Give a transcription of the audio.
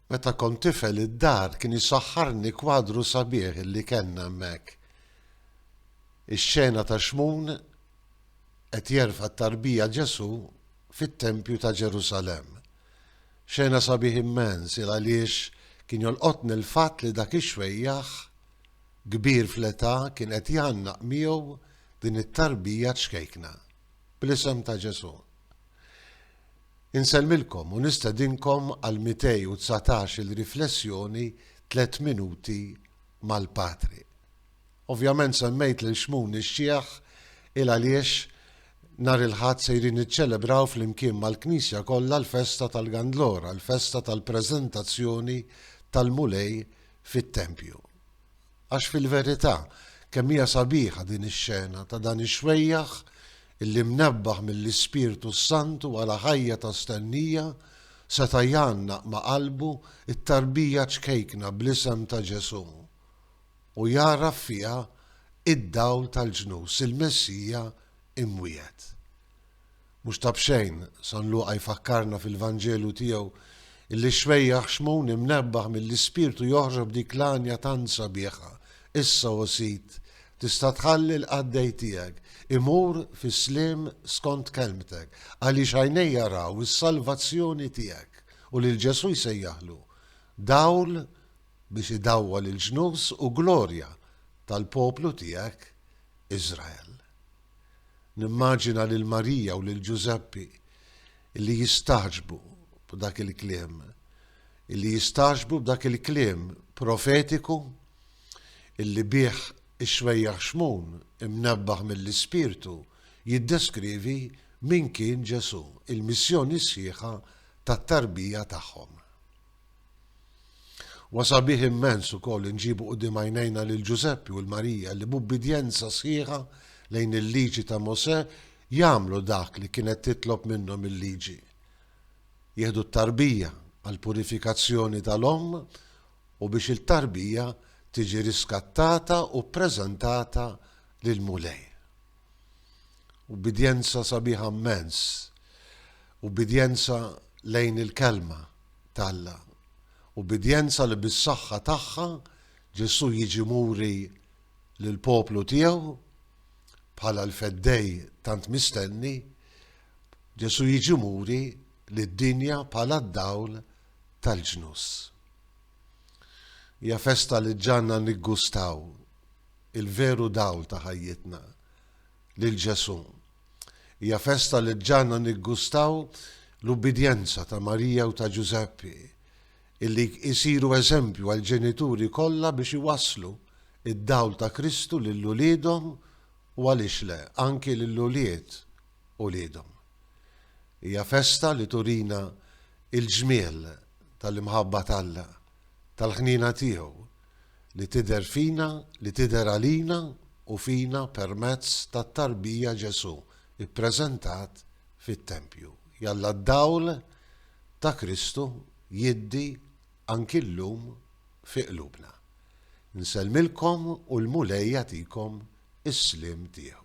Meta kont tifel id-dar kien jsaħħarni kwadru sabiħ li kellna hemmhekk. Ix-xena ta' Xmun qed jerfa' t-tarbija Ġesù fit-tempju ta' Ġerusalemm. Xena sabiħ immens il għaliex kien jolqotni l-fatt li dak ix-xwejjaħ kbir fl-età kien qed jgħannaq miegħu din it-tarbija ċkejkna bl-isem ta' Ġesù. Insellmilkom u nistedinkom għal 219 il riflessjoni Tliet Minuti mal-Patri. Ovvjament semmejt lil Xmun ix-Xiħ il għaliex nhar il-Ħadd sejrin niċċelebraw flimkien mal-Knisja kollha l-festa tal-Gandlora, l-festa tal-preżentazzjoni tal-Mulej fit-tempju. Għax fil-verità, kemm hija sabiħa din ix-xena ta' dan ix-xwejjaħ illi mnebbaħ mill-Ispirtu s-Santu għala ħajja ta' stennija seta' jgħannaq ma' qalbu t-tarbija ċkejkna bl-isem ta' Ġesù u jagħraf fiha id-Dawl tal-ġnus, il-Messija imwiegħed. Mhux ta' b'xejn, San Luqa jfakkarna fil-Vanġelu tiegħu illi x-xwejjaħ xmun imnebbaħ mill-Ispirtu joħroġ b'dik l-għanja tant sabiħa, Issa, o Sid, tista' tħalli l-qaddej tiegħek imur fis-sliem skont kelmtek, għaliex għajnejja raw is-salvazzjoni tiegħek, u lil Ġesù jsejjaħlu dawl biex idawwal il-ġnus u glorja tal-poplu tiegħek Iżrael. Nimmaġina lil Marija u lil Ġużeppi li jistagħġbu b'dak il-kliem, li jistagħġbu b'dak il-kliem profetiku li bih ix-xwejjaħ Xmun, imnebbaħ mill-Ispirtu, jiddeskrivi min kien Ġesù, il-missjoni sħiħa tat-tarbija tagħhom. Huwa sabiħ immens ukoll li nġibu quddiem għajnejna lil Ġużeppi u 'l Marija li b'ubbidjenza sħiħa lejn il-Liġi ta' Mosè jagħmlu dak li kienet titlob minnhom il-Liġi, jieħdu t-tarbija għall-purifikazzjoni tal-omm u biex il-tarbija tiġi riskattata u ppreżentata lill-Mulej. Ubbidjenza sabiħa mmens, ubbidjenza lejn il-Kelma t'Alla, ubbidjenza li bis-saħħa tagħha Ġesù jiġi muri lill-poplu tiegħu bħala l-Feddej tant mistenni, Ġesù jiġi muri lid-dinja bħala d-dawl tal-ġnus. Hija festa li ġġanna niggustaw il-veru dawl ta' ħajjitna, lil Ġesù. Hija festa li ġġagħalna niggustaw l-ubbidjenza ta' Marija u ta' Ġużeppi, illi jsiru eżempju għall-ġenituri kollha biex iwasslu d-dawl ta' Kristu lil uliedhom u għaliex le, anki lil ulied uliedhom. Hija festa li turina l-ġmiel tal-imħabba t'Alla. tal-ħniena tiegħu li tidher fina li tidher għalina u fina permezz tat-tarbija Ġesù ppreżentat fit-tempju. Jalla d-dawl ta' Kristu jiddi anki llum fi qlubna. Nsellmilkom u l-Mulej jagħtikom is-sliem tiegħu.